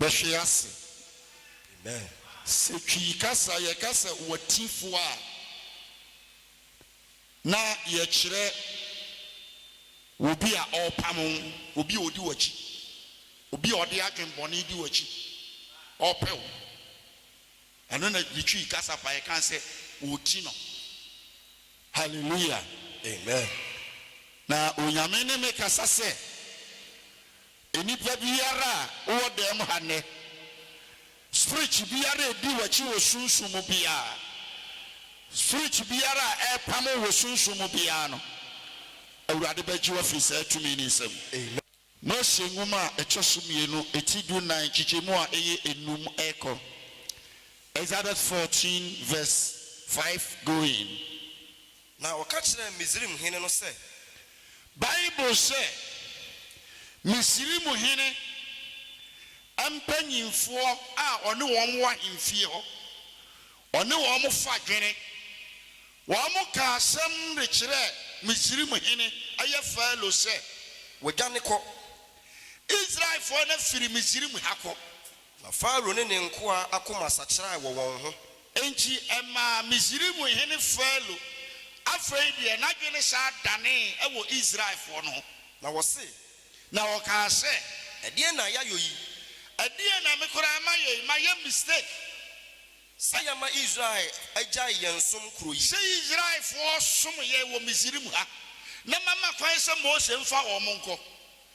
Bɛhwe ase. Amen. Sɛ Twi kasa yɛka sɛ Watifoɔ a, na yɛkyerɛ obi a ɔrepam wo, obi a ɔdi w'akyi, obi a ɔde adwene bɔne di w'akyi, ɔrepɛ wo. Ɛno na ne Twi kasa fa yɛka sɛ ɔreti no. Hallelujah. Amen. Na Onyame ne me kasa sɛ, Nnipa biara a wowɔ dɛm ha nnɛ, spirit biara a edi w'akyi wɔ sunsum mu biara, spirit biara a ɛrepam wo wɔ sunsum mu biara no, Awurade bɛgye wo afi saa tumi no nsam. Mose Nwoma a Ɛtɔ So Mmienu, ti dunnan, nkyekyɛmu a ɛyɛ nnum rekɔ, Exodus fourteen verse five going, Na wɔka kyerɛɛ Misraim hene no sɛ. Bible sɛ, Misraim hene mpanimfoɔ a ɔne wɔn wɔ ahemfie hɔ, ɔne wɔn fa dwene. Wɔka asɛm de kyerɛ Misraim hene, ɛyɛ Farao, sɛ. Wɔdwane kɔ. Israelfoɔ no afiri Misraim ha kɔ. Na Farao ne ne nkoa akoma sakyerae wɔ wɔn ho. Enti ɛmaa Misraim hene Farao afei deɛ n'adwene san danee wɔ Israelfoɔ no ho. Na wɔse. Na wɔkaa sɛ. Ɛdeɛn na yɛayɔ yi? Ɛdeɛn na me koraa mayɔ yi? Mayɛ mistake. Sɛ yɛma Israel agyae yɛn som kuro yi? Sɛ Israelfoɔ som yɛn wɔ Misraim ha, na mama kwan sɛ Mose mfa wɔn nkɔ,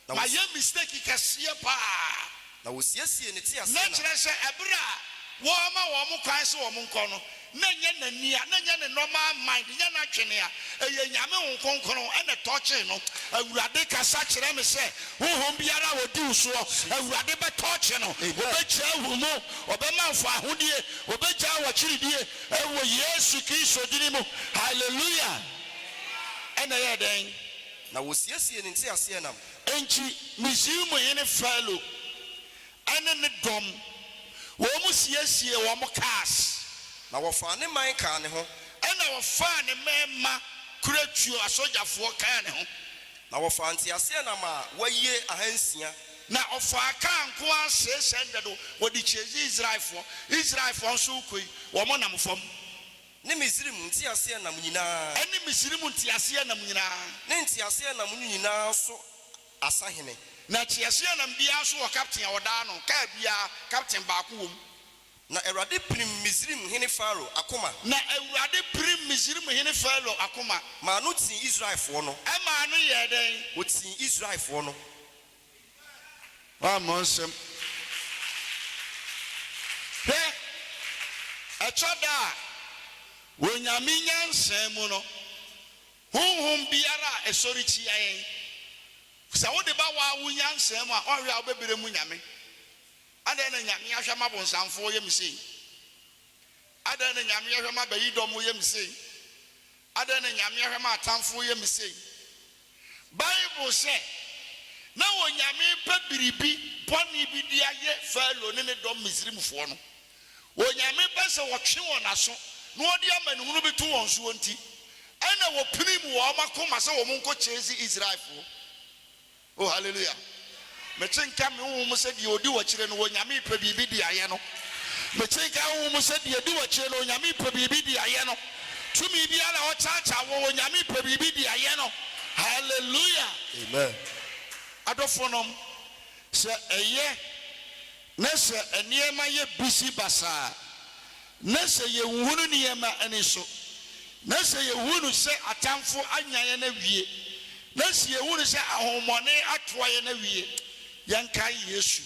Na wayɛ mistake kɛseɛ paa. Na wɔsiesiee ne teaseɛnam. Na kyerɛ sɛ ɛberɛ a wɔrema wɔn kwan sɛ wɔn nkɔ no, na ɛnyɛ n'ani a, na ɛnyɛ ne normal mind, ɛnyɛ n'adwene a, ɛyɛ Nyame Honhom Kronkron ɛna ɛtɔɔkyee no. Awurade kasa kyerɛ me sɛ honhom biara a ɔdi wo soɔ, Awurade bɛtɔɔkye no, ɔbɛgyaa ahurumo, ɔbɛma wo fawohodie, ɔbɛgyaa w'akyiridie ɛwɔ Yesu Kristo dini mu. Hallelujah! Ɛna ɛyɛɛ dɛn? Na wɔsiesiee ne nteaseɛnam. Enti Misraim hene Farao ne ne dɔm, wɔsiesiee wɔn cars. Na wɔfaa ne man kaa ne ho. Ɛnna wɔfaa ne mmarima kuratuo asogyafoɔ kaa ne ho. Na wɔfaa nteaseɛnam a wɔayie ahansia. Na wɔfaa kaa nko ara six hundred, wɔde chasee Israelfoɔ. Israelfoɔ nso rekɔ yi, wɔnam fam. Ne Misraim nteaseɛnam nyinaa. Ne Misraim nteaseɛnam nyinaa. Ne nteaseɛnam no nyinaa so asahene. Na teaseɛnam biara so wɔ kapten a ɔdaa no, kaa biara, kapten baako wom. Na Awurade pirim Misraim hene Farao akoma. Na Awurade pirim Misraim hene Farao akoma. Maa no tii Israelfoɔ no. Ɛmaa no yɛɛ dɛn? Ɔtii Israelfoɔ no. Woammɔ nsam. Hwɛ! Ɛtɔ da a, wɔ Nyame nyansa mu no, honhom biara a ɛsɔre tia yɛn, sɛ wode ba woa wo nyansa mu a, woahwɛ a wobɛbrɛ mu Nyame. Adɛn na Nyame ahwɛ ama bonsam foɔ yɛ me sei? Adɛn na Nyame ahwɛ ma bayidɔm yɛ me sei? Adɛn na Nyame ahwɛ ma atamfo yɛ me sei? Bible sɛ, Na Onyame repɛ biribi bɔne bi de ayɛ Farao ne ne dɔm Misrimfoɔ no. Onyame pɛ sɛ ɔtwe wɔn aso na ɔde amanehunu bi to wɔn soɔ nti, ɛna ɔpirim wɔn akoma sɛ wɔn nkɔ chase Israelfoɔ. O Hallelujah! Mete nka me honhom mu sɛ deɛ ɔdi w'akyire no, Onyame repɛ biribi de ayɛ no. Mete nka me honhom mu sɛ deɛ di w'akyire no, Onyame repɛ biribi de ayɛ no. Tumi biara a ɔkyaakyaaw wo, Onyame repɛ biribi de ayɛ no. Hallelujah! Amen. Adɔfonom, sɛ ɛyɛ na sɛ nneɛma yɛ busy basaa, Na sɛ yɛnhunu nneɛma ani so, na sɛ yɛhunu sɛ atamfo anya yɛn awie, na sɛ yɛhunu sɛ ahohommɔne atoa yɛn awie, yɛnkae Yesu.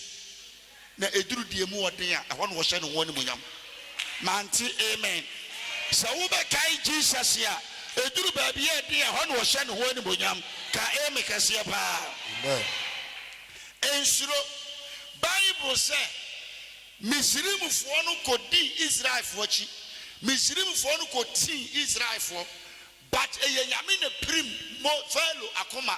Na ɛduru deɛ mu ɔden a, ɛhɔ na wɔhyɛ ne ho animuonyam. Mante, amen. Sɛ wobɛkae Jesus a, ɛduru baabi a ɛden a, ɛhɔ na wɔhyɛ ne ho animuonyam. Ka amen kɛseɛ paa. Amen. Nsuro. Bible sɛ, Misraimfoɔ no kɔdii Israelfoɔ akyi, Misraimfoɔ no kɔtii Israelfoɔ, but ɛyɛ Nyame na pirim Mo, Farao, akoma,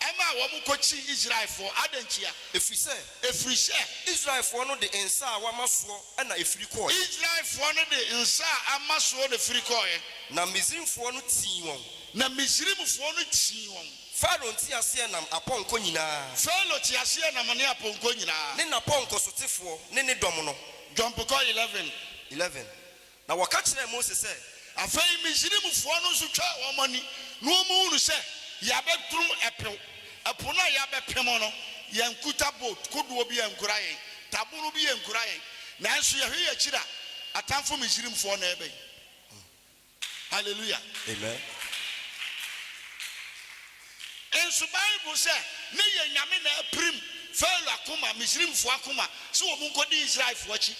ɛmaa wɔn kɔtii Israelfoɔ, adɛn ntia? Ɛfiri sɛ, ɛfiri sɛ. Israelfoɔ no de nsa a wɔama soɔ na ɛfiri kɔɔeɛ. Israelfoɔ no de nsa a ama soɔ na ɛfiri kɔɔeɛ. Na Misraimfoɔ no tii wɔn. Na Misraimfoɔ no tii wɔn. Farao nteaseɛnam apɔnkɔ nyinaa. Farao teaseɛnam ne apɔnkɔ nyinaa. Ne n'apɔnkɔsotefoɔ ne ne dɔm no. John Bukor eleven. Eleven. Na wɔka kyerɛɛ Mose sɛ. Afei Misraimfoɔ no nso twaa wɔn ani, na wɔhunu sɛ yɛabɛduru ɛpo, ɛpo no a yɛabɛpem no, yɛankuta boat, kodoɔ, bi ankura yɛn, tabono bi ankura yɛn, nanso yɛhwɛ yɛn akyiri a, atamfo Misraimfoɔ na ɛreba yi. Hallelujah! Amen! Nso Bible sɛ ne yɛ Nyame na apirim Pharaoh akoma, Misrimfoɔ akoma, sɛ wɔn nkɔdi Israelfoɔ akyi.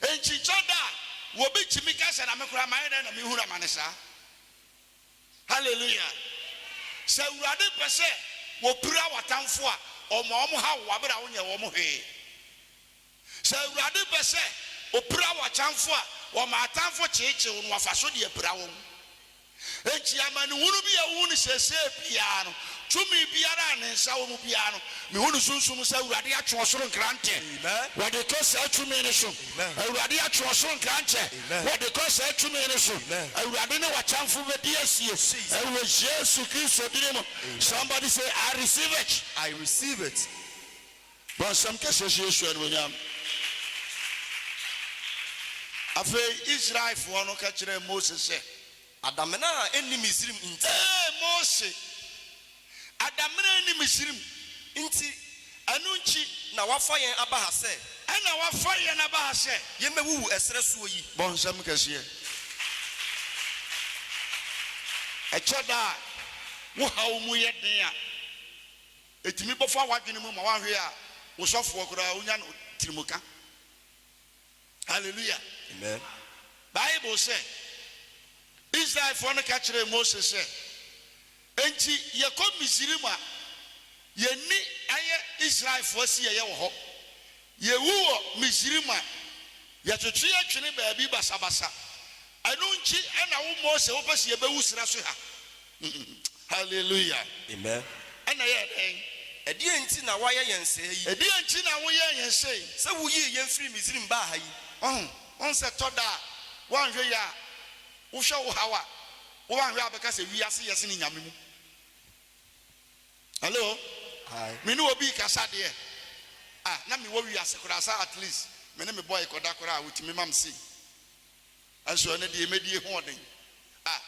Nkyikyɛ da a wɔbi tumi ka sɛ na me koraa mayɛ dɛn na mehunu amane saa? Hallelujah! Sɛ Awurade pɛ sɛ wɔpira w'atamfoɔ a, ɔma wɔn haw wo aberɛ a wonyɛ wɔn hwee. Sɛ Awurade pɛ sɛ opira w'atamfo a, wɔma atamfo kyeekyeew no, wɔfa so de apira wɔn. Enti amanehunu bi a wuhu no seesei biara no, tumi biara a ne nsa wɔ mu biara no, mihu no sunsum sɛ Awurade atwe ɔsoro nkrantɛ wɔde kɔ saa tumi no so. Awurade atwe ɔsoro nkrantɛ wɔde kɔ saa tumi no so. Awurade ne w'atamfo bedi asie wɔ Yesu Kristo din mu. Somebody say, I receive it. I receive it. Bɔ nsɛm kɛseɛ hyɛ Yesu animuonyam. Afei Israelfoɔ no ka kyerɛɛ Mose sɛ. Adamena a ɛnni Misrim nti. Ee Mose, adamena a ɛnni Misrim nti, ɛno nti. Na woafa yɛn aba ha sɛ. Ɛna woafa yɛn aba ha sɛ. Yɛmmɛwuwu ɛserɛ soɔ yi? Bɔ nsɛm kɛseɛ. Ɛkyɛ da a wo haw mu yɛ den a. Etumi bɔ fa w'adwene mu ma wanhwɛ a wo sɔfoɔ koraa wonya no tirimuka. Hallelujah. Amen. Bible sɛ, Israelfoɔ no ka kyerɛɛ Mose sɛ, Enti yɛkɔ Misraim a, yɛn ni ayɛ Israelfoɔ si yɛyɛ wɔ hɔ, Yewu wɔ Misrim a, yɛtwetwe yɛ twene baabi basabasa. Ɛno nkyi na wo Mose wo pɛ sɛ yɛ bɛwu sra so ha? Hallelujah! Amen! Ɛna yɛɛ dɛn? Ɛdeɛn nti na woayɛ yɛn sɛɛ yi? Ɛdeɛn nti na wo yɛɛ yɛn sɛɛ yi? Sɛ wo yii yɛn firii Misrim baa ha yi? Wahu? Wahu sɛ ɛtɔ da a woanhwɛ yɛ a wo hwɛ wo haw a wo anhwɛ a bɛka sɛ wiase yɛ sene Nyame mu. Hello Hi. me ne obi rekasa deɛ ah na me wɔ wiase koraa saa at least me ne me boy kɔda koraa ɔtumi ma me sei nso ɛnɛ deɛ mɛdi ɛho ɔden ah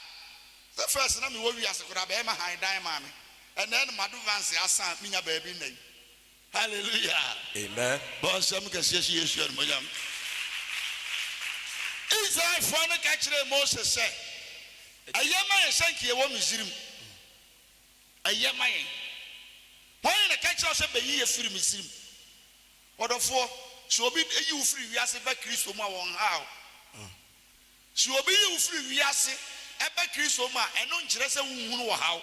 sɛ first na me wɔ wiase koraa bɛɛma han dan maa me ɛnɛ no mado vance asan me nya baabi nna yi hallelujah Amen. bɔ nsɛm kɛseɛ si Yesu animuonyam Israelfoɔ no ka kyerɛɛ Mose sɛ ɛyɛ ma yɛhyɛ nkeɛ wɔ Misrim ɛyɛ ma yɛn? Hwan na ɛka kyerɛɛ wo sɛ bɛyi yɛn firi Misrim? Ɔdɔfoɔ, sɛ obi yi wo firi wiase ba Kristo mu a, wɔnnhaa wo. Sɛ obi yi wo firi wiase ba Kristo mu a, ɛno nkyerɛ sɛ wonhunu ɔhaw.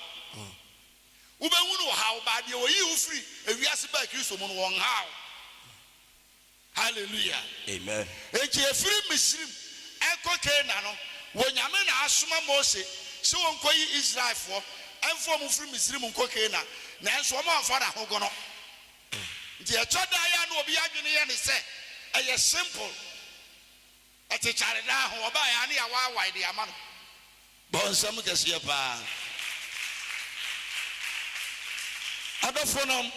Wobɛhunu ɔhaw, but deɛ wɔyii wo firi wiase baa Kristo mu no, wɔnnhaa wo. Hallelujah! Amen. Enti efiri Misrim ɛkɔ Canaan no, wɔ Nyame na asoma Mose se wɔnkɔ yi Israelfoɔ ɛmfa wɔn mfiri Misrim nkɔ Canaan, nanso wɔn amfa na hogono. Nti ɛtɔ da a na obi adwene yɛ ne sɛ ɛyɛ simple. Ɔte kyare daa ho, ɔbaeɛ a ne yɛawaawae de ama no. Bɔ nsɛm kɛseɛ paa. Adɔfonom,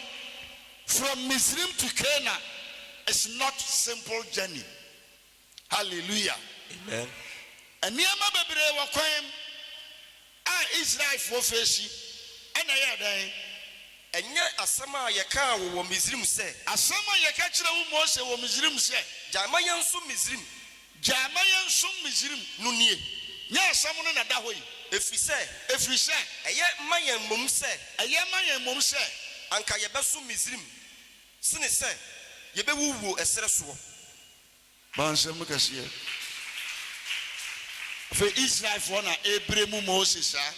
from Misrim to Cana is not simple journey. Hallelujah. Amen. Nneɛma bebree wɔ kwan mu. A Israelfoɔ feesi na ɛyɛɛ dɛn? Ɛnyɛ asɛm a yɛkaa wo wɔ Misrim sɛ. Asɛm a yɛka kyerɛɛ wo Mose wɔ Misrim sɛ. Gyae ma yɛnsom Misrim. Gyae ma yɛnsom Misrim. No nie. Nyɛ asɛm no na ɛda hɔ yi. Ɛfiri sɛ. Ɛfiri sɛ. Ɛyɛ ma yɛn mmom sɛ. Ɛyɛ ma yɛn mmom sɛ. Anka yɛbɛsom Misrim sene sɛ yɛbɛwuwuo ɛserɛ soɔ. Mansɛm kɛseɛ. Afei Israelfoɔ na ɛreberɛ mu Moses saa.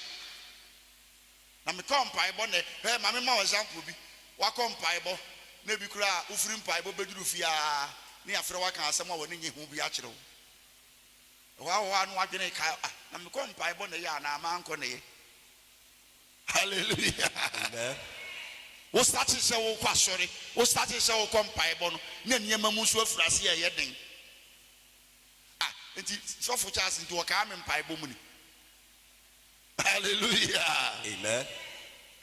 Na mekɔ mpaebɔ nɛ, hwɛ ma mema wo example bi, woakɔ mpaebɔ na ɛbi koraa wofiri mpaebɔ bɛduru fie ara na yɛafrɛ wo aka asɛm a w'ani nnye ho bi akyerɛ wo. Ɛhɔ ara hɔ ara na w'adwene reka ah na mekɔ mpaebɔ nɛ yɛ anaa mankɔ nɛ yɛ. Hallelujah Amen. Wo starte sɛ wokɔ asɔre, wo starte sɛ wokɔ mpaebɔ no na nneɛma mu nso afiri ase ɛyɛ den. Ah, nti sɔfo Charles nti wɔkaa me mpaebɔ mu ni. Hallelujah Amen.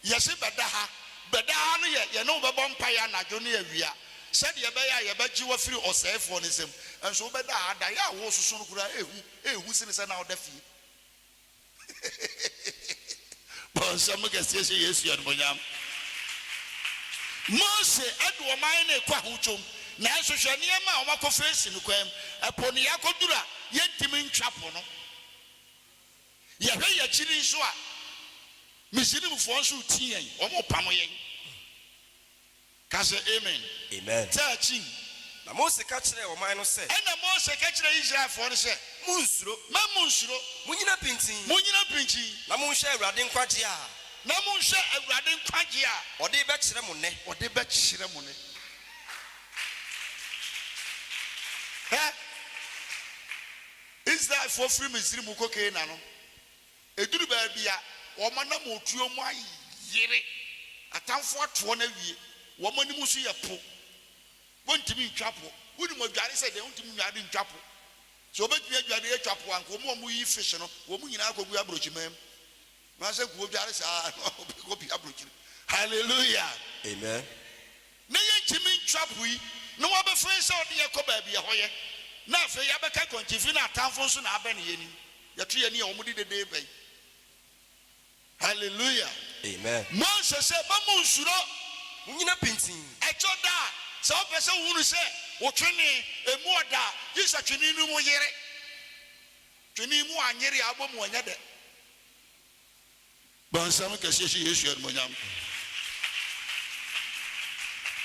Yɛse bɛda ha, bɛda ha no yɛ yɛne wo bɛbɔ mpaeɛ anadwo ne awia sɛdeɛ ɛbɛyɛ a yɛbɛgye wo afiri ɔsɛefoɔ no nsam. Nso wobɛda ha, daeɛ a woresoso no koraa ɛhu, ɛhu sene sɛ na woda fie. Bɔ nsɛm kɛseɛ hyɛ Yesu animuonyam. Mose de wɔn man no rekɔ ahokyom, nanso hwɛ nneɛma a wɔakɔfa asi no kwan mu. Ɛpo no yɛakɔduru a, yɛntumi ntwa po no. Yɛhwɛ yɛn akyi nso a, Misraimfoɔ nso retu yɛn, wɔrepamo yɛn. Ka sɛ, Amen! Amen! Sɛ akyin. Na Mose ka kyerɛɛ ɔman no sɛ. Ɛnna Mose ka kyerɛɛ Israelfoɔ no sɛ. Monnsuro. Mma monnsuro. Monnyina pintinn. Monnyina pintinn. Na monhwɛ Awurade nkwagyeɛ a. Na monhwɛ Awurade nkwagyeɛ a. Ɔde rebɛkyerɛ mo nnɛ. Ɔde rebɛkyerɛ mo nnɛ. Hwɛ! Israelfoɔ firi Misiri mu rekɔ Kanaan no, Ɛduru baabi a, wɔn anammɔtuo mu ayere, atamfo ato wɔn awie, wɔn anim nso yɛ po, wɔntumi ntwa po. Wonim adware sɛ dɛn? Wontumi nnware ntwa po. Sɛ wɔbɛtumi adware atwa po a, anka wɔn a wɔyi fish no, wɔn nyinaa kɔgu aburokyiman mu. Anaasɛ nka wɔdware saa ara na wɔkɔpia aburokyire. Hallelujah! Amen. na yɛntumi ntwa po yi na wɔabɛfa yɛn sɛ wɔde yɛn kɔ baabi a ɛhɔ yɛ, na afei yɛabɛka kwankyinfii na atamfo nso na abɛn yɛn anim, yɛto yɛn ani a wɔde dede reba yi. Hallelujah! Amen! Mose se, Mma munnsuro. Munnyina pintinn. Ɛtɔ da a, sɛ wopɛ sɛ wohunu sɛ wo twene mmu ɔda a, gye sɛ twene no mu yere. Twene mu anyere a, abom anya dɛ. Bɔ nsɛm kɛseɛ hyɛ Yesu animuonyam.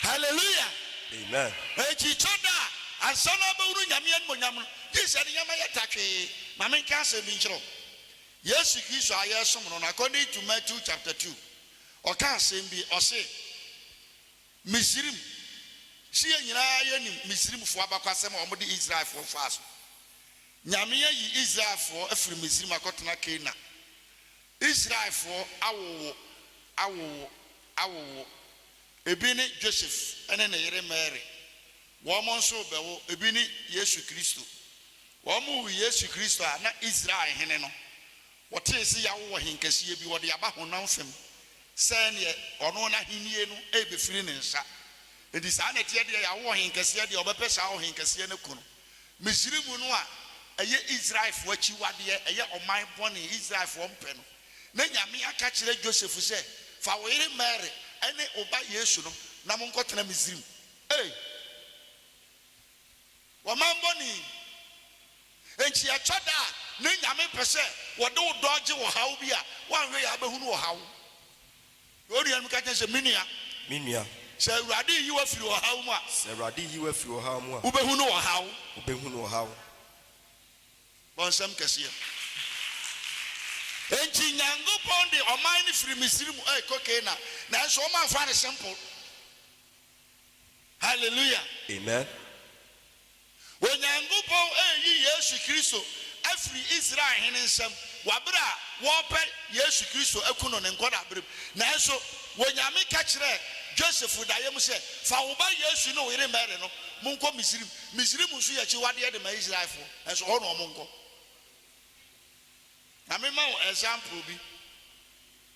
Hallelujah! Amen. Enti kyɛ da a ansa na wobɛhunu Nyame animuonyam no, gye sɛ nneɛma yɛ ta twee. Ma menka asɛm bi nkyerɛ wo. Yesu Kristo a yɛresom no no, according to Matthew chapter two, ɔkaa asɛm bi, ɔse, Misrim, se yɛn nyinaa yɛnim Misrimfoɔ abakwasɛm a wɔde Israelfoɔ faa so. Nyame ayi Israelfoɔ afiri Misrim akɔtena Canaan. Israelfoɔ awowo awowo awowo, ebi ne Joseph ne ne yere Mary, wɔn nso rebɛwo, ebi ne Yesu Kristo. Wɔwoo Yesu Kristo a na Israel hene no, wɔtee se yawo ɔhenkɛseɛ bi, wɔde aba honam fam, sɛdeɛ ɔno n'ahennie no rebɛfiri ne nsa. Enti saa na ɛteɛ deɛ yawo ɔhenkɛseɛ deɛ ɔbɛpɛ saa ɔhenkɛseɛ no aku no. Misraim no a ɛyɛ Israelfoɔ akyiwadeɛ, ɛyɛ ɔman bɔne a Israelfoɔ mpɛ no. Na Nyame aka kyerɛ Joseph sɛ, Fa wo yere Mary ne wo ba Yesu no na monkɔtena Misraim. Ei! Ɔman bɔne yi! Enti ɛtɔ da a na Nyame pɛ sɛ wɔde wo dɔɔgye ɔhaw bi a woanhwɛ yɛ a bɛhunu ɔhaw. Na onua no ka kyerɛ no sɛ, Me nua. Me nua. Sɛ Awurade reyi wo afiri ɔhaw mu a. Sɛ Awurade reyi wo afiri ɔhaw mu a. Wobɛhunu ɔhaw. Wobɛhunu ɔhaw. Bɔ nsɛm kɛseɛ. Enti Nyankopɔn de ɔman no firi Misiri mu rekɔ Canaan. Nanso wɔamfa no simple. Hallelujah! Amen. Onyankopɔn reyi Yesu Kristo afiri Israel hene nsam wɔ bere a wɔrepɛ Yesu Kristo aku no ne nkwadaa bere mu. Nanso Onyame ka kyerɛɛ Joseph daeɛ mu sɛ, Fa wo ba Yesu ne wo yere Mary no, monkɔ Misrim. Misrim nso yɛ akyiwadeɛ de ma Israelfoɔ, nanso hɔ na wɔnkɔ. Na mema wo example bi,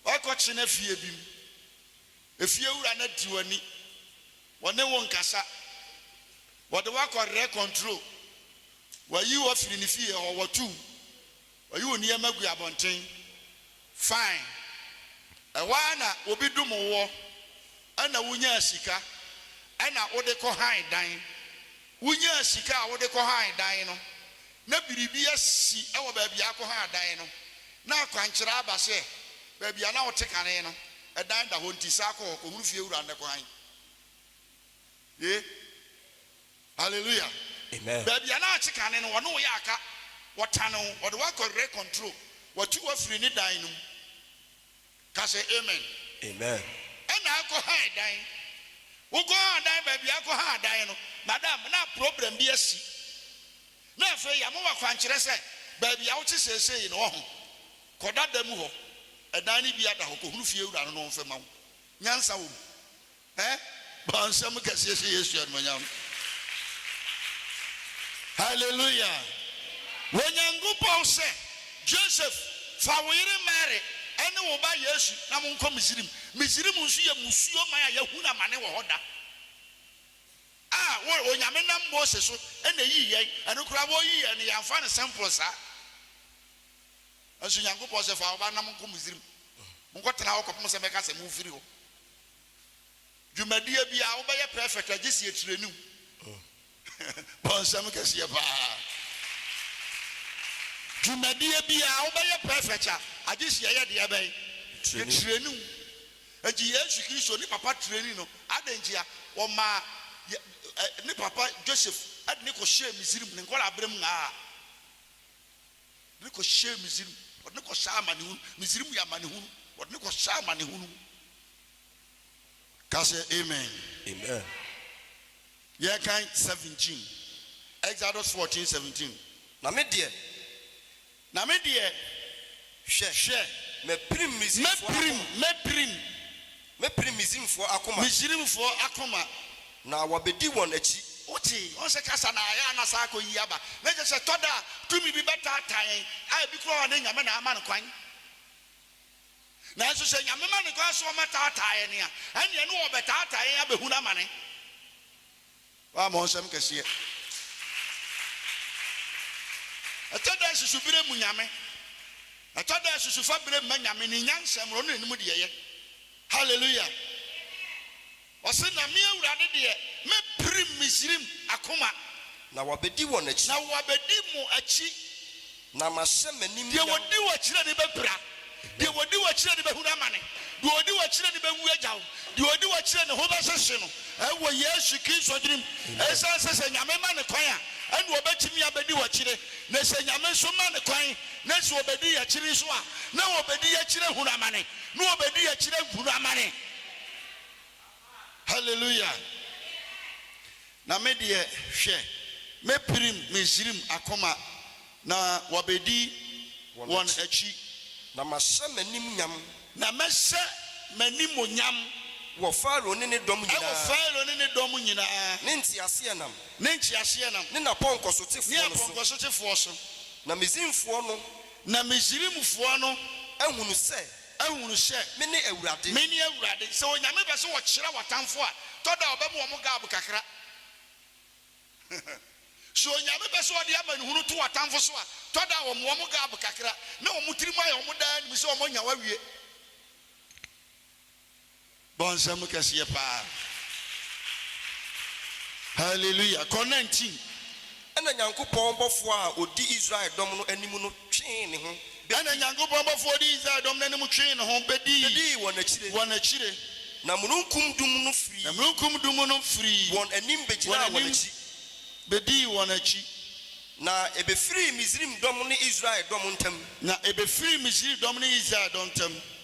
Wakɔkyena fie bi mu. Efiewura no adi w'ani. Wɔne wo nkasa. Wɔde wo akɔ rɛ kɔntro. Wɔayi wo afiri ne fie hɔ. Wɔtow wo. Wɔyi wo nneɛma gu abɔnten. Fine. Ɛhɔ ara na obi dom woɔ. Ɛna wonyaa sika. Ɛna wode kɔ han dan. Wonyaa sika a wode kɔ han dan no, na biribi asi wɔ baabi a akɔha adan no, na akwankyerɛ aba sɛ baabi a na wɔte kane no, ɛdan da hɔ, nti san kɔ hɔ kɔhunu fie wura nnɛ kɔ han. Ye? Hallelujah! Amen. Baabi a na wɔte kane no, wɔne wo yɛ aka, wɔtane wo, wɔde wo akɔ rent control, wɔatu wo afiri ne dan no mu. Ka sɛ, Amen. Amen. Ɛna akɔ han dan. Wokɔ han dan baabi akɔ han dan no, madam, na problem bi asi. Na afei yɛama wo akwankyerɛ sɛ baabi a wote seesei no, ɔho, kɔda da mu hɔ. Ɛdan no biara da hɔ. Kɔhunu fiewura no na ɔmfa ma wo. Nyansa wɔ mu. Ɛ bɔ nsɛm kɛseɛ hyɛ Yesu animuonyam. Hallelujah! Onyankopɔn sɛ, Joseph, fa wo yere Mary ne wo ba Yesu na monkɔ Misrim. Misrim nso yɛ mmusuo man a yɛahunu amane wɔ hɔ da. A wo, Onyame nam Mose so na ɛyii yɛn, ɛno koraa wɔreyi yɛn no yɛamfa no simple saa. Nanso Nyankopɔn sɛ, fa wo ba no na monkɔ Misrim. Monkɔtena hɔ kɔpem sɛ mɛka sɛ mofiri hɔ. Dwumadie biaa wobɛyɛ perfect a gyesi ɛtiraniw bɔ nsɛm kɛseɛ paa Dwumadie biaa wobɛyɛ perfect a agyesi ɛyɛ deɛ bɛn ɛtiraniw Enti Yesu Kristo ne papa tirani no adɛn ntia wɔmaa ne papa Joseph de no kɔhyɛɛ Misrim ne nkwadaa berɛm aa. Wɔde no kɔhyɛɛ Misrim, wɔde no kɔhyɛɛ amanehunu, Misrim yɛ amanehunu, wɔde no kɔhyɛɛ amanehunu mu. Ka sɛ, Amen. Amen. Yɛnkan 17, Exodus 14, 17. Na me deɛ, Na me deɛ, hwɛ, hwɛ, mapirim Misrifoɔ mɛpirim, abɔ. mɛpirim, Mɛpirim Misrimfoɔ akoma. Misrimfoɔ akoma. Na wɔbɛdi wɔn akyi. Wote? Wɔn sɛ kasa na ayɛ a na saa akɔ yi aba. Na kyerɛ sɛ ɛtɔ da a, tumi bi bɛtaataa yɛn, a ebi koraa wɔ hɔ a na Nyame na ama no kwan. Nanso sɛ Nyame ma no kwan sɛ wɔbɛtaataa yɛn a, ɛnneɛ na wɔbɛtaataa yɛn abɛhunu amane. Wammɔ nsɛm kɛseɛ. Ɛtɔ da a susu berɛ mmu Nyame. Ɛtɔ da a susu fa berɛ mma Nyame, ne nyansa mu, ɔno na nim deɛ ɛyɛ. Hallelujah! Ɔse, Na me Awurade deɛ, mɛpirim Misrim akoma. Na wɔabɛdi wɔn akyi. Na wɔabɛdi mo akyi. Na mahyɛ m'anim da. Deɛ ɔdi wo akyire no bɛpira, deɛ ɔdi wo akyire no bɛhunu amane, deɛ ɔdi wo akyire no bɛwu agya wo, deɛ ɔdi wo akyire ne ho bɛhyehye no wɔ Yesu Kristo din mu. Ɛsiane sɛ sɛ Nyame ma no kwan a, ɛnna ɔbɛtumi abɛdi wo akyire, na sɛ Nyame nso ma no kwan na sɛ ɔbɛdi yɛn akyire nso a, na ɔbɛdi yɛn akyire ahunu amane, na ɔbɛdi yɛn akyire ahunu amane. Hallelujah! Na me deɛ, hwɛ, mɛpirim Misraim akoma, na wɔbɛdi wɔn akyi. Na mahyɛ m'animuonyam. Na mɛhyɛ m'animuonyam. Wɔ Farao ne ne dɔm nyinaa. Wɔ Farao ne ne dɔm nyinaa. Ne nteaseɛnam. Ne nteaseɛnam. Ne n'apɔnkɔsotefoɔ no so. Ne apɔnkɔsotefoɔ so. Na Misraimfoɔ no. Na Misraimfoɔ no. Ahunu sɛ. Ahunu sɛ me ne Awurade. Me ne Awurade. Sɛ Onyame pɛ sɛ ɔkyerɛ w'atamfo a, tɔ da ɔbɛma wɔn gab kakra. Sɛ Onyame pɛ sɛ ɔde amanehunu to w'atamfo so a, tɔ da ɔma wɔn gab kakra, na wɔn tirim ayɛ wɔn daa anim sɛ wɔanya wo awie. Bɔ nsam kɛseɛ paa. Hallelujah. Kɔ 19. Ɛnna Nyankopɔn bɔfoɔ a ɔdi Israel dɔm no anim no twee ne ho bɛ. Ɛnna Nyankopɔn bɔfoɔ a ɔdi Israel dɔm no anim twee ne ho bɛdii. Bɛdii wɔn akyire. Wɔn akyire. Na mununkum dum no firii. Na mununkum dum no firii. Wɔn anim bɛgyinaa wɔn akyi. Bɛdii wɔn akyi. Na ɛbɛfirii Misraim dɔm ne Israel dɔm ntam. Na ɛbɛfirii Misraim dɔm ne Israel dɔm ntam.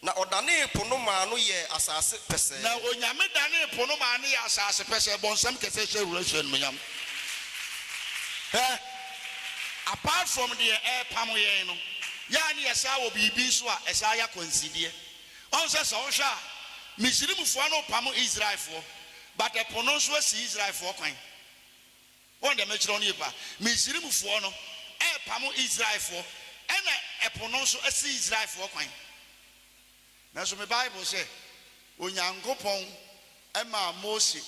Na ɔdanee po no maa no yɛɛ asase pɛsɛɛ. Na Onyame danee po no maa no yɛɛ asase pɛsɛɛ, bɔ nsɛm kɛsɛ, hyɛ wura hyɛ animuonyam. Hwɛ, apart from deɛ ɛrepamo yɛn no, yɛ a ne yɛsaa wɔ biribi nso a ɛsaa yɛ akwansideɛ. Ɔho sɛ sɛ wohwɛ a, Misrimfoɔ no repamo Israelfoɔ, but ɛpo no nso asi Israelfoɔ kwan. Wɔn deɛ mɛkyerɛ wɔn yɛpa. Misrimfoɔ no repamo Israelfoɔ, ɛna ɛpo no nso asi Israelfoɔ kwan. Nanso me Bible sɛ, Onyankopɔn maa Mose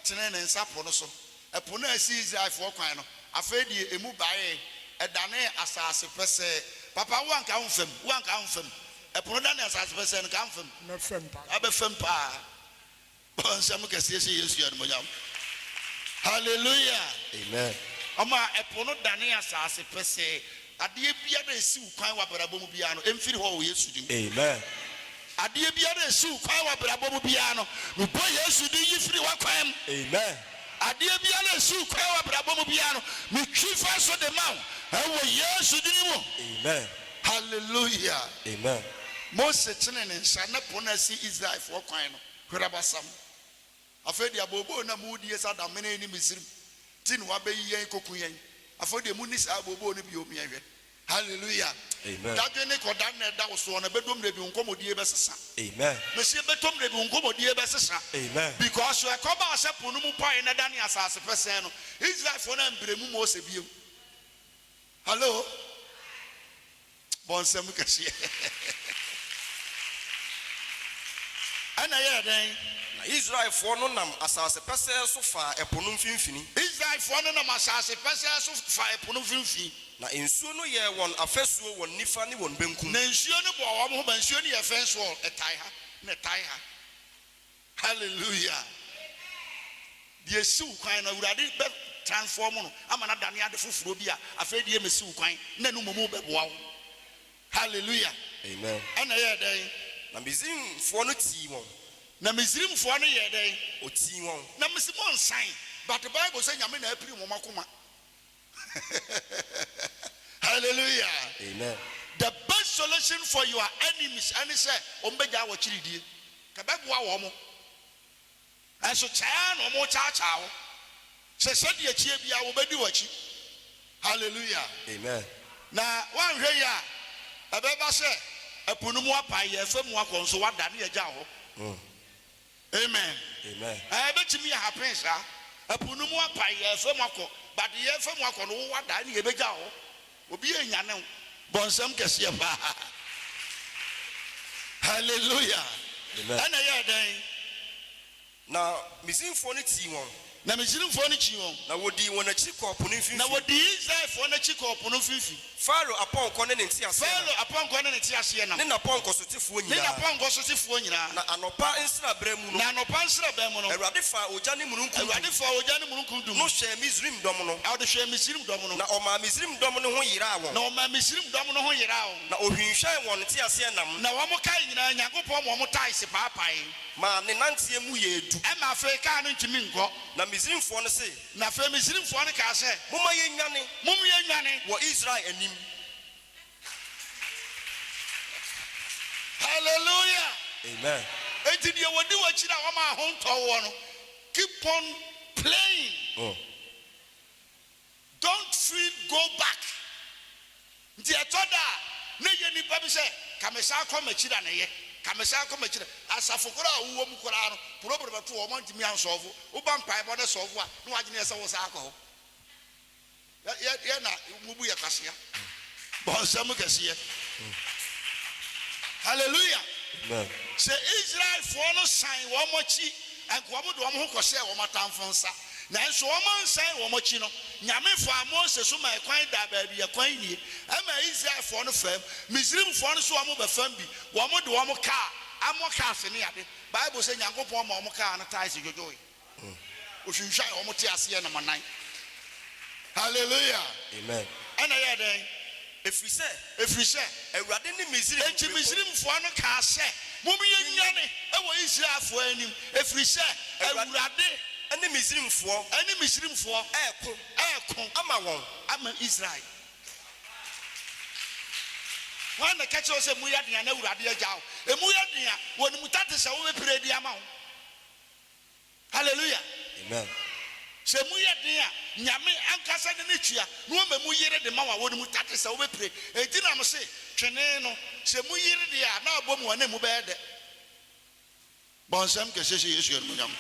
tenee ne nsa po no so, ɛpo no a asi Israelfoɔ kwan no, afei deɛ ɛmu baee, ɛdanee asase pɛsɛɛ. Papa, wo a nka womfa mu, wo a nka womfa mu. Ɛpo no danee asase pɛsɛɛ no, nka womfa mu? Mɛfa mu paa. Wobɛfa mu paa. Bɔ nsɛm kɛseɛ hyɛ Yesu animuonyam. Hallelujah! Amen. Ɔma ɛpo no danee asase pɛsɛɛ. Adeɛ biara a ɛsi wo kwan wɔ abrabɔ mu biara no, ɛmfiri hɔ wɔ Yesu din mu. Amen. Adeɛ biara a ɛsi wo kwan wɔ abrabɔ mu biara no, mebɔ Yesu din yi firi w'akwan mu. Amen. Adeɛ biara a ɛsi wo kwan wɔ abrabɔ mu biara no, metwi fa so de ma wo wɔ Yesu din mu. Amen. Hallelujah! Amen. Mose tenee ne nsa, na po no asi Israelfoɔ kwan no. Kwɛrabasɛm. Afei deɛ abooboo na mo die sa damene ne Misrim ti na wabeyi yɛn koku yɛn afei deɛ mo nni saa abooboo no bio meɛ hwɛ Hallelujah dadwene kɔda na ɛda wo soɔ no ɛbɛdom dabi wo nkɔmɔdie bɛsesa mese ɛbɛtom dabi wo nkɔmɔdie bɛsesa because so ɛkɔbaa sɛ po no mu paee na ɛdane asase pɛsɛɛ no Israelfoɔ no ambrɛ mu Mose bio Hallo? Bɔ nsɛm kɛseɛ. Ɛnna ɛyɛɛ dɛn? Na Israelfoɔ no nam asase pɛsɛɛ so faa ɛpo no mfimfini. Israelfoɔ no nam asase pɛsɛɛ so faa ɛpo no mfimfini. Na nsuo no yɛɛ wɔn afasuo wɔn nifa ne wɔn benkum. Na nsuo no bɔɔ wɔn ho ban. Nsuo no yɛ fence wall, ɛtae ha, na ɛtae ha. Hallelujah! Deɛ ɛsi wo kwan no, Awurade bɛ transform no ama no adane ade foforɔ bi a afei deɛ ɛmmɛsi wo kwan, na ɛno mmom bɛboa wo. Hallelujah! Amen. Ɛnna ɛyɛɛ dɛn? Na Misrimfoɔ no tii wɔn. Na Misrimfoɔ no yɛɛ dɛn? Wɔtii wɔn. Na mese monsan, but Bible sɛ Nyame na apirim wɔn akoma. Hallelujah Amen. The best solution for your enemies ɛne sɛ wɔn bɛgyae wɔkyiridie. Ka bɛboa wɔn. Nanso kyɛɛ na wɔn kyaakyaa wo sɛ sɛdeɛ ɛkyeɛ biara wɔbɛdi wɔkyi. Hallelujah Amen. Na woanhwɛ yie a ɛbɛba sɛ ɛpo no mu apae, yɛɛfa mu akɔ nso woada na yɛagya wo hɔ. Amen ɛɛ ɛbɛtumi yɛ happen saa ɛpo no mu apae yɛɛ fam akɔ but yɛɛ fam akɔ no wowa da ɛne yɛbɛgya hɔ obiaa nyane wo bɔnsɛm kɛseɛ paa hallelujah ɛna ɛyɛɛ dɛn. Na Misrinfoɔ no tii wɔn. Na Misrimfoɔ no kyii wɔn. Na wɔdii wɔn akyi kɔɔ po no mfimfini. Na wɔdii Israelfoɔ no akyi kɔɔ po no mfimfini. Farao apɔnkɔ ne ne nteaseɛnam. Farao apɔnkɔ ne ne nteaseɛnam. Ne n'apɔnkɔ sotefoɔ nyinaa. Ne n'apɔnkɔ sotefoɔ nyinaa. Na anɔpa nsraberɛ mu no. Na anɔpa nsraberɛ mu no. Awurade faa ogya ne mununkum dum. Awurade faa ogya ne mununkum dum. No hwɛɛ Misrim dɔm no. Ɔde hwɛɛ Misrim dɔm no. Na ɔmaa Misrim dɔm no ho yeraa wɔn. Na ɔmaa Misrim dɔm no ho yeraa wɔn. Na ɔhwinhwɛn wɔn nteaseɛnam. Na wɔkae nyinaa, Nyankopɔn ma wɔtaa se paapaee. Ma ne nanteɛ mu yɛ du. Ɛma afei kaa no ntumi nkɔ. Na Misrimfoɔ no se. Na afei Misrimfoɔ no kaa sɛ. Momma yɛnnwane. Mom yɛnnwane. Wɔ Israel anim. Hallelujah! Amen. Enti deɛ wɔdi w'akyiri a wɔma ahontɔ woɔ no, keep on playing. Don't fret go back nti ɛtɔ da a na ɛyɛ nnipa bi sɛ ka me san kɔ m'akyi na na ɛyɛ ka me san kɔ m'akyi na asafo koraa a wowɔ mu koraa no problem no to wɔn a ntumi ansɔɔfo woba mpaebɔ na ɛsɔɔfo a na w'adwene yɛ sɛ wo san akɔ hɔ yɛ yɛ na mo bu yɛ kwasea bɔ nsɛm kɛseɛ hallelujah sɛ Israelfoɔ no san wɔn akyi anka wɔn de wɔn ho kɔhyɛɛ wɔn atamfo nsa. Nanso wɔansɛe wɔn akyi no, Nyame faa Mose so ma ɛkwan daa baabi a kwan nnie. Ɛmaa Israelfoɔ no faam. Misrimfoɔ no so wɔn bɛfam bi. Wɔn de wɔn kaa amɔ kaa ase ne ade. Bible sɛ Nyankopɔn ma wɔn kaa no tae so dwodwoe. Ɔhwinhwan wɔn teaseɛnam nan. Hallelujah! Amen. Ɛna ɛyɛɛ dɛn? Ɛfiri sɛ. Ɛfiri sɛ. Awurade ne Misraim. Enti Misraimfoɔ no kaa sɛ. Momyɛnwane wɔ Israelfoɔ anim, ɛfiri sɛ Awurade. Ne Misraimfoɔ. Ne Misraimfoɔ. Reko. Reko. Ama wɔn. Ama Israel. Hwan na ɛka kyerɛɛ wo sɛ emu yɛ den a na Awurade agya wo? Emu yɛ den a, wɔn mu ta te sɛ wobɛpira bi ama wo. Hallelujah! Amen. Sɛ emu yɛ den a, Nyame ankasa de ne tua na wama emu yere de ma wɔn a wɔnom mu, that is sɛ wobɛpire. Enti na mese, twene no, sɛ emu yere deɛ a, na abɔ mu a na emu bɛyɛ dɛ. Bɔ nsɛm kɛseɛ hyɛ Yesu animuonyam.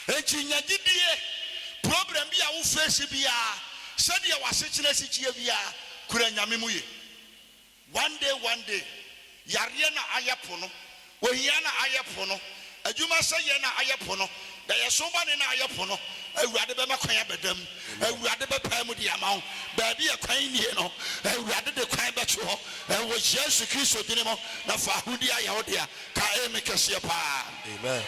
Enti nya gyidie, problem bi a wo face biara, sɛdeɛ w'asetena si teɛ biara, kura Nyame mu yie. One day one day Yareɛ na ayɛ pono Ohia na ayɛ pono Adwuma sɛ yɛ na ayɛ pono Daeɛso bɔne na ayɛ pono Awurade bɛma kwan abɛda mu Awurade bɛpae mu de ama wo Baabi a kwan nnie no Awurade de kwan bɛto hɔ Wɔ Yesu Kristo dini mu Na fa ahodie ayɛ wo dea Ka Amen kɛseɛ paa. Amen.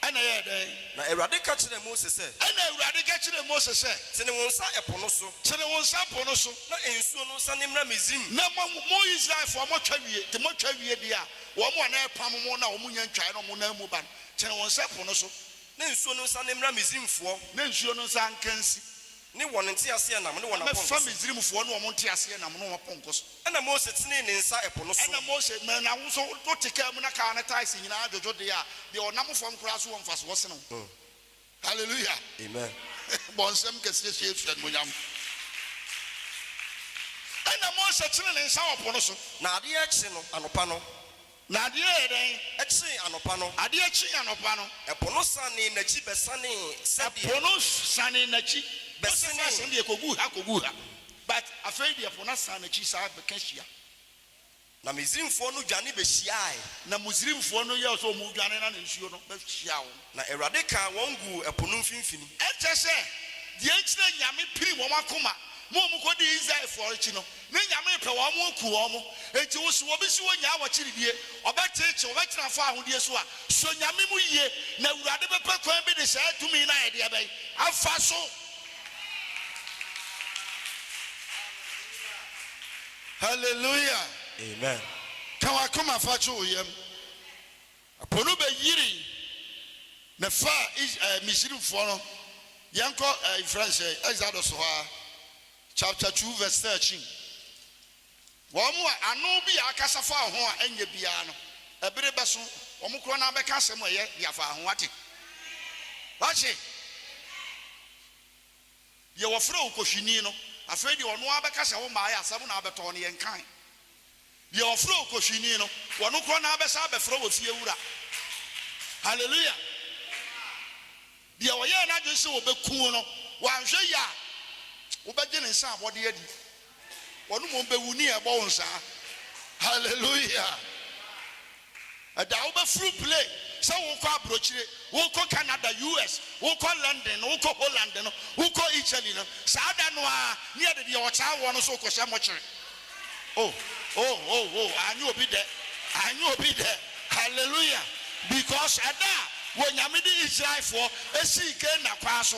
Ɛnna ɛyɛɛ dɛn? Na Awurade ka kyerɛɛ Mose sɛ. Ɛnna Awurade ka kyerɛɛ Mose sɛ. Tene wo nsa ɛpo no so. Tene wo nsa po no so. Na nsuo no nsane mmra Misraim. Na mo, mo Israelfoɔ, motwa wie, te motwa wie deɛ a, wɔn a na ɛrepam mo na wɔn nnya ntwaeɛ na wɔn nan mu ba no, tene wo nsa po no so. Na nsuo no nsane mmra Misraimfoɔ. Na nsuo no nsa nka nsi Ne wɔn nteaseɛnam ne wɔn apɔnkɔ so. Na mɛfa Misraimfoɔ ne wɔn nteaseɛnam ne wɔn apɔnkɔ so. Ɛnna Mose tenee ne nsa ɛpo no so. Ɛnna Mose maa no ahosuo to te kaa mu na kaa ne taes nyinaa dwodwo deɛ a deɛ ɔnam fam koraa so wɔ mfasoɔ sene wo. Hallelujah! Amen! Bɔ nsɛm kɛseɛ hyɛ Yesu animuonyam. Ɛnna Mose tenee ne nsa wɔ po no so. Na adeɛ rekye no anɔpa no. Na adeɛ yɛɛ dɛn? Kyee anɔpa no. Adeɛ kyee anɔpa no. Ɛpo no sanee n'akyi bɛsanee sɛdeɛ. Ɛpo no sanee n'akyi. Bɛsanee. Wosɛ saa asɛm deɛ kɔgu ha kɔgu ha. But afei deɛ ɛpo no asan n'akyi saa bɛka hyia. Na Misrimfoɔ no dwane bɛhyiaae. Na Misrimfoɔ no yɛɛ sɛ wɔredwane na nsuo no bɛhyiaa wɔn. Na Awurade kaa wɔn guu ɛpo no mfimfini. Ɛkyɛ sɛ, deɛ nti na Nyame piri wɔn akoma ma wɔn kɔ dii Israelfoɔ akyi no, ne Nyame pɛ wɔn ma ɔkuu wɔn. Enti wo so obi se ɔnyaa w'akyiridie, ɔbɛteekye, ɔbɛtena fɔ ahodeɛ so a, sɔ Nyame mu yie, na Awurade bɛpɛ kwan bi de saa tumi no ayɛ deɛ bɛn? Afa so. Hallelujah! Amen. Ka w'akoma fa to wo yam. Ɛpo no bɛyirii, na ɛfaa Is ɛɛ Misrimfoɔ no. Yɛnkɔ ɛɛ yɛfrɛ no sɛn, Exodus hɔ ara, chapter two verse thirteen. Wɔn a ano bi a akasa faa ho a ɛnyɛ biara no, ɛbere bɛso, wɔn korɔ no ara bɛka asɛm a ɛyɛ de afaa ho. Wate? Wate? Deɛ wɔfrɛ wo kɔhwini no, afei deɛ ɔno ara bɛka sɛ wommaeɛ, asɛm na abɛtɔ no, yɛnkae. Deɛ ɔfrɛ wo kɔhwini no, ɔno korɔ na abɛsan abɛfrɛ wo ofiewura. Hallelujah! Deɛ ɔyɛɛ n'adwene sɛ ɔbɛku wo no, wanhwɛ yie a, wobɛgye ne nsa abɔdeɛ adi. Wɔn mmom bewu nea ɛbɔ wɔn saa. Hallelujah! Ɛda a wobɛforo plane sɛ worekɔ aburokyire, worekɔ Canada, US, worekɔ London, worekɔ Holland no, worekɔ Italy no, saa da no ara ne yɛde deɛ ɔtaa woɔ no nso rekɔhyɛ mɔkyere. Oh, oh, oh, oh, anyɛ obi dɛ, anyɛ obi dɛ. Hallelujah! Because ɛda a Onyame de Israelfoɔ sii Gehenna kwan so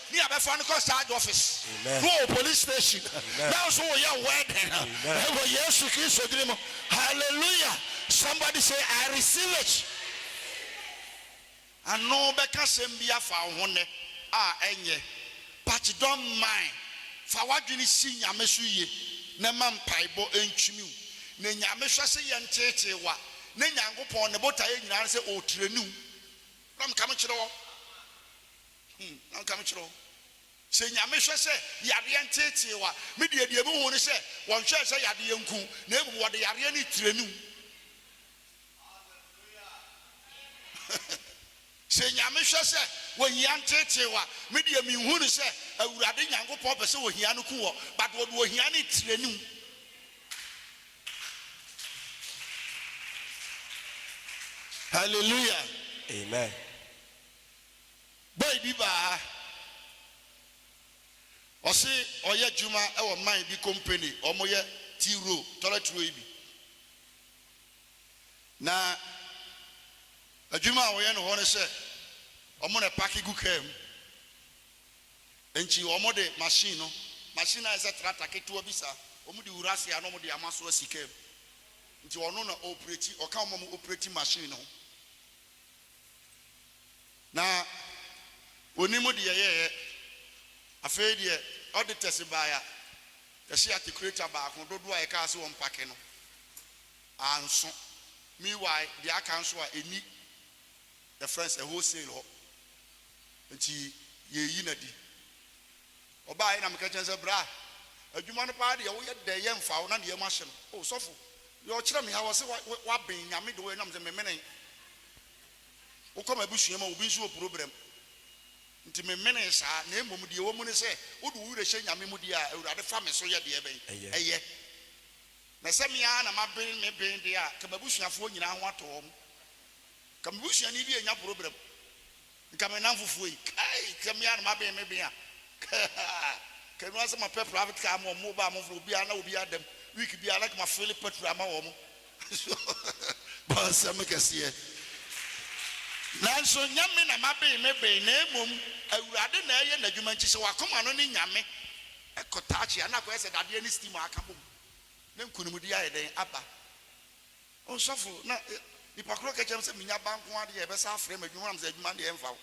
Nea bɛfa no kɔ sarge office no wɔ police station nanso woyɛ wɛ dɛn ɛwɔ yesu kristo dini mu hallelujah somebody say I receive it ano bɛka sɛm bi afa wo ho nnɛ a ɛnyɛ but don't mind fa wadwene si nyame so yie na ma mpaebɔ ntwimi wo na nyame hwɛ sɛ yɛ nteetee wa na nyankopɔn ne botaeɛ nyinaa ne sɛ ɔtrɛni wo na meka mekyerɛ wɔ. Hum, na nka mekyerɛ wo, sɛ Nyame hwɛ sɛ yadeɛ nteetee wo a, me deɛ deɛ mehu ne sɛ wɔnhwɛɛ sɛ yadeɛ nku wo, na mmom wɔde yareɛ no retraini wo. Sɛ Nyame hwɛ sɛ ohia nteetee wo a, me deɛ menhu ne sɛ Awurade Nyankopɔn pɛ sɛ ohia no ku wɔ, but wɔde ohia no retraini wo. Hallelujah. Amen. Boy bi baa ha, ɔse ɔyɛ adwuma wɔ mine bi company, ɔmo yɛ tea roll, toilet roll yi bi. Na adwuma a wɔyɛ no hɔ ne sɛ ɔmo na ɛpake gu kaa mu. Nti ɔmo de machine no, machine no ayɛ sɛ tractor ketewa bi saa, ɔmo de wura ase a na ɔmo de ama so asi kaa mu. Nti ɔno na ɔɔpreti, ɔka wɔn a ɔmo ɔpreti machine no ho. Na ɔnim deɛ yɛyɛ. Afei deɛ ɔde tɛse baeɛ a, yɛhyɛ atekureta baako, dodoɔ a yɛkaa sɛ ɔmpake no, anso. Meanwhile, deɛ aka nso a, ɛnni yɛfrɛ no sɛ wholesale hɔ, enti yɛreyi no adi. Ɔbaae na meka kyerɛ no sɛ, Bra, adwuma no paa deɛ woyɛ dɛ yɛ mfa wo na deɛ ɛma hye no. O, sɔfo, deɛ ɔkyerɛ me ha, ɔse woaben Nyame de woyɛ nam sɛ memene wo kɔ m'abusua mu a obi nso wɔ probrɛm nti memenee saa, na mmom deɛ ɛwɔ mu ne sɛ wode wo werɛ hyɛ Nyame mu deɛ a, Awurade fa me so yɛ deɛ ɛbɛn? Ɛyɛ. Na sɛ me ara na maben me ben deɛ a, ka m'abusuafoɔ nyinaa ho atɔ wɔn. Ka me busuani bi annya probrɛm. Nka me nnamfofoɔ yi kai sɛ me ara na maben me ben a kaa ka ɛno ara sɛ mapɛ private car ama wɔn mobaa a mofrɛ obiara na obiara da mu week biara like ma fele petrol ama wɔn so bɔ nsɛm kɛseɛ nanso nyɛ me na maben me ben na mmom awurade na ɛyɛ n'adwuma nti sɛ wakoma no ne nyame ɛkɔ taakye a na akɔyɛ sɛ dadeɛ ne steam a aka bom na nkunimdie ayɛ dɛn aba. Ɔsɔfo, na nipa koro ka kyerɛ me sɛ menya ba nko ara de yɛbɛsa afrɛ me adwuma nam sɛ adwuma deɛ ɛmfa wo.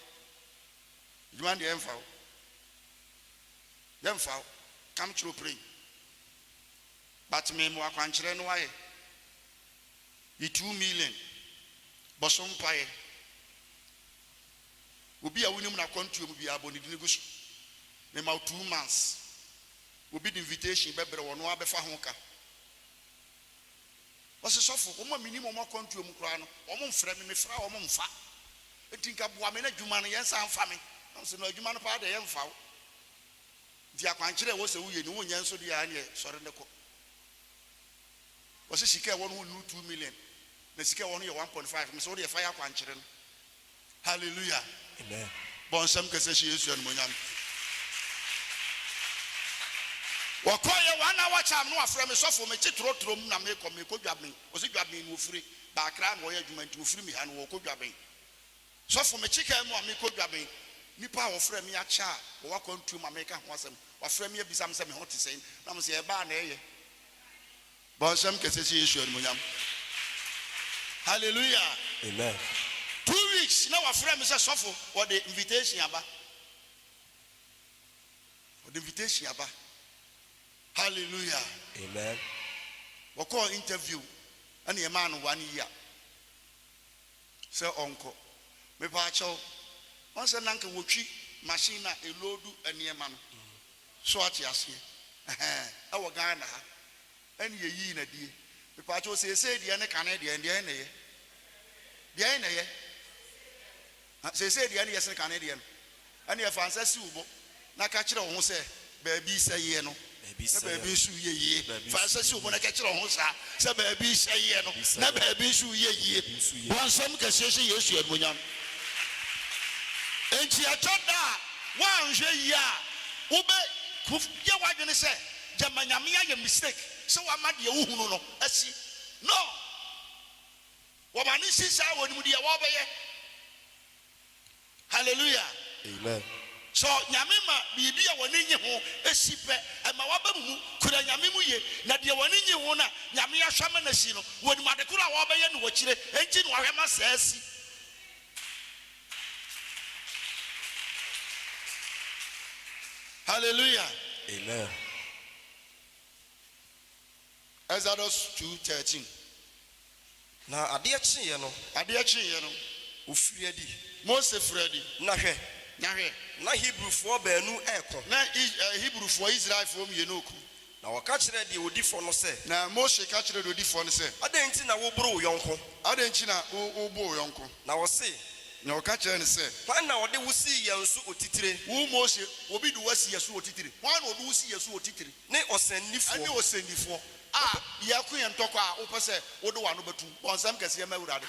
Adwuma deɛ ɛmfa wo. Yɛmfa wo. Come kyerɛ ɔpirɛn. But me mewɔ akwankyerɛ no wayɛ. Yi two million bɔ so mpaeɛ. Obi a wonim no akwantuo mu biara bɔ ne dini gu so. Me ma wo two months. Obi de invitation bɛbrɛ wo ɔno ara bɛfa ho ka. Ɔse, Sɔfo, wɔn a menim wɔn akwantuo mu koraa no, wɔn mfrɛ me, mefrɛ a wɔn mfa. Enti nka boa me na adwuma no, yɛn nsa mfa me. Nam se, No, adwuma no paa deɛ, yɛn mfa wo. Nti akwankyerɛ a ɛwɔ sɛ woyɛ ni, wonyɛ nso deɛ a, ɛneɛ sɔre na kɔ. Ɔse, Sika a ɛwɔ no ho nnuru two million, na sika a ɛwɔ no yɛ one point five. Mese, Wodeɛ fa yɛ akwankyerɛ no. Hallelujah! Amen. Bɔ nsɛm kɛsɛ hyɛ Yesu animuonyam. Wɔkɔɔ yɛ one hour charm no wafrɛ me sɔfo mete trɔtrɔ mu na mekɔ mekɔ Dwaben wɔsi Dwaben no wɔfiri ba Accra na wɔyɛ adwuma nti wɔfiri me ha no wɔkɔ Dwaben sɔfo mete kaa mu a mekɔ Dwaben nipa a wɔfrɛ me akyɛ a wɔwɔ akwantuo ma meka ho asɛm wafrɛ me abisa me sɛ me ho te sɛn na mo sɛ ɛbaa na ɛyɛ Bɔ nsɛm kɛse hyɛ Yesu animuonyam. Hallelujah. Amen. Two weeks na wafrɛ me sɛ sɔfo wɔde invitation aba. Wɔde invitation aba. Hallelujah. Amen. Wɔkɔɔ interview ɛna yɛmaa no one year. sɛ ɔnkɔ. Mepaakyɛw, ɔn sɛ na nka wɔtwi machine a ɛloodu nneɛma no, so ate aseɛ? Ɛhɛɛ, ɛwɔ Ghana ha, ɛne yɛyii no adie. Mepaakyɛw, seesei deɛ ne kane deɛn, deɛn na ɛyɛ? Deɛn na ɛyɛ? Seesei deɛ ne yɛse kane deɛn? Ɛnneɛ fa nsa si wo bo na ka kyerɛ wo ho sɛ, Baabi sɛ yɛ no, na baabi nso reyɛ yie. Fa nsa si wo bo na ka kyerɛ wo ho saa, sɛ, Baabi sɛ yɛ no, na baabi nso reyɛ yie. Bɔ nsɛm kɛseɛ hyɛ Yesu animuonyam. Enti ɛtɔ da a, woanhwɛ yie a, wobɛyɛ w'adwene sɛ, Gyama Nyame ayɛ mistake sɛ wama deɛ wohunu no asi. No! Wɔma no nsi saa a, wɔnim deɛ wɔrebɛyɛ. Hallelujah! Amen. Sɔ Nyame ma biribi a w'ani nnye ho si pɛ, ɛma w'aba mu mu, kura Nyame mu ye, na deɛ w'ani nnye ho no a Nyame ahwɛ ama no asi no, wɔnim ade koro a wɔbɛyɛ no wɔ akyire, enti na wahwɛ ama saa asi. Hallelujah! Amen. Exodus two thirteen, Na adeɛ kyeeɛ no. Adeɛ kyeeɛ no. Ɔfirii adi. Mose firii adi. Na hwɛ. Na hwɛ. Na Hebrifoɔ baanu reko. Na Hebrifoɔ, Israelfoɔ mmienu reko. Na wɔka kyerɛɛ deɛ ɔdi fɔ no sɛ. Na Mose ka kyerɛɛ deɛ ɔdi fɔ no sɛ. Adɛn nti na woboro wo yɔnko. Adɛn nti na wobo wo yɔnko. Na ɔse. Na wɔka kyerɛɛ no sɛ. Hwan na ɔde wo sii yɛn so otitire. Wo Mose, obi de wo asi yɛn so otitire? Hwan na ɔde wo si yɛn so otitire? ne ɔsɛnnifoɔ. Ɛne ɔsɛnnifoɔ a yɛreko yɛn ntɔkwa a wopɛ sɛ wode w'ano bɛtom, bɔ nsɛm kɛseɛ ma Awurade.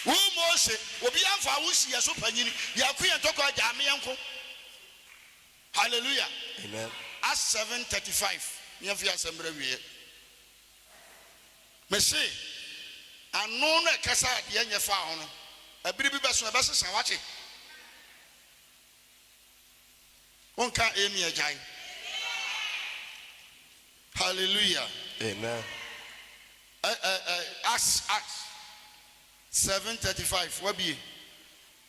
Wo Mose, obiara mfaa wo nsi yɛn so panyin, yɛreko yɛn ntɔkwa, gyaa me yɛnko. Hallelujah. Amen. Acts seven thirty five, ne yɛmfa yɛn asɛm berɛ awieɛ. Mese, ano no ɛkasa a deɛ nyɛ faa ho no, ɛberɛ bi bɛso ɛbɛsesa, woate? Wonka Amen agyae. Hallelujah. Amen. Ɛ ɛ ɛ Acts Acts seven thirty five wabie.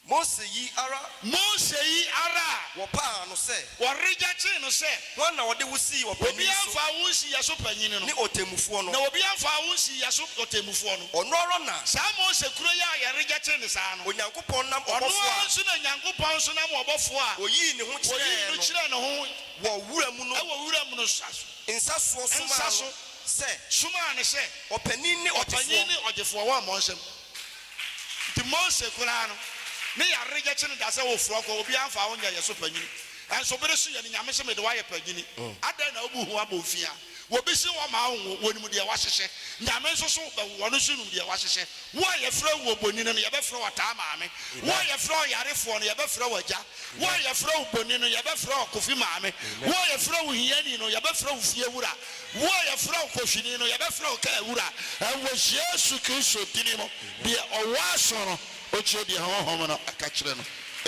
Mose yi ara. Mose yi ara a. Wɔpaa no sɛ. Wɔregyakye no sɛ. Hwan na wɔde wo sii ɔpanyin so. Obiara mfaa wo nsii yɛn so panyin no. Ne ɔtemmufoɔ no. Na obiara mfaa wo nsii yɛn so ɔtemmufoɔ no. Ɔno ara na. Saa Mose koro yi a yɛregyakye no saa no. Onyankopɔn. Nyankopɔn nam Ɔno ɔbɔfoɔ ara a nso na Nyankopɔn nso nam ɔbɔfoɔ a Ɔyii ne ho Ɔyii kyerɛɛ no no kyerɛɛ ne ho wɔ wura mu no wɔ wuram no nsa so, nsa soɔ somaa nsa no so, sɛ somaa no sɛ ɔpanin ne ɔpanin ɔgyefoɔ. ne ɔgyefoɔ wɔ mmɔnsɛm mu. Nti Mose koraa no, ne yareɛ gyɛ kye no da sɛ wofoɔ kɔ, obiara mfaa wo nyɛɛ yɛ so panyini. Nso bere so yɛ no Nyame se mede wo ayɛ panyini, adɛn na wobu ho abomfiaa? Wɔbɛsi hɔ ma awo, wɔnim deɛ wɔahyehyɛ, Nyame nso so bɛwo, ɔno nso nim deɛ wɔahyehyɛ. Wo a yɛfrɛ wo Obonini no, yɛbɛfrɛ wo Ɔtaa Maame, wo a yɛfrɛ wo Yarefoɔ no, yɛbɛfrɛ wo Agya, wo a yɛfrɛ wo Boni no, yɛbɛfrɛ wo Kofi Maame, wo a yɛfrɛ wo Hiani no, yɛbɛfrɛ wo Fie Wura, wo a yɛfrɛ wo Kohwini no, yɛbɛfrɛ wo Kaa Wura. Ɛwɔ Yesu Kristo dini mu, deɛ ɔwɔ aso no, ɔntie deɛ Honhom no ka kyerɛ no.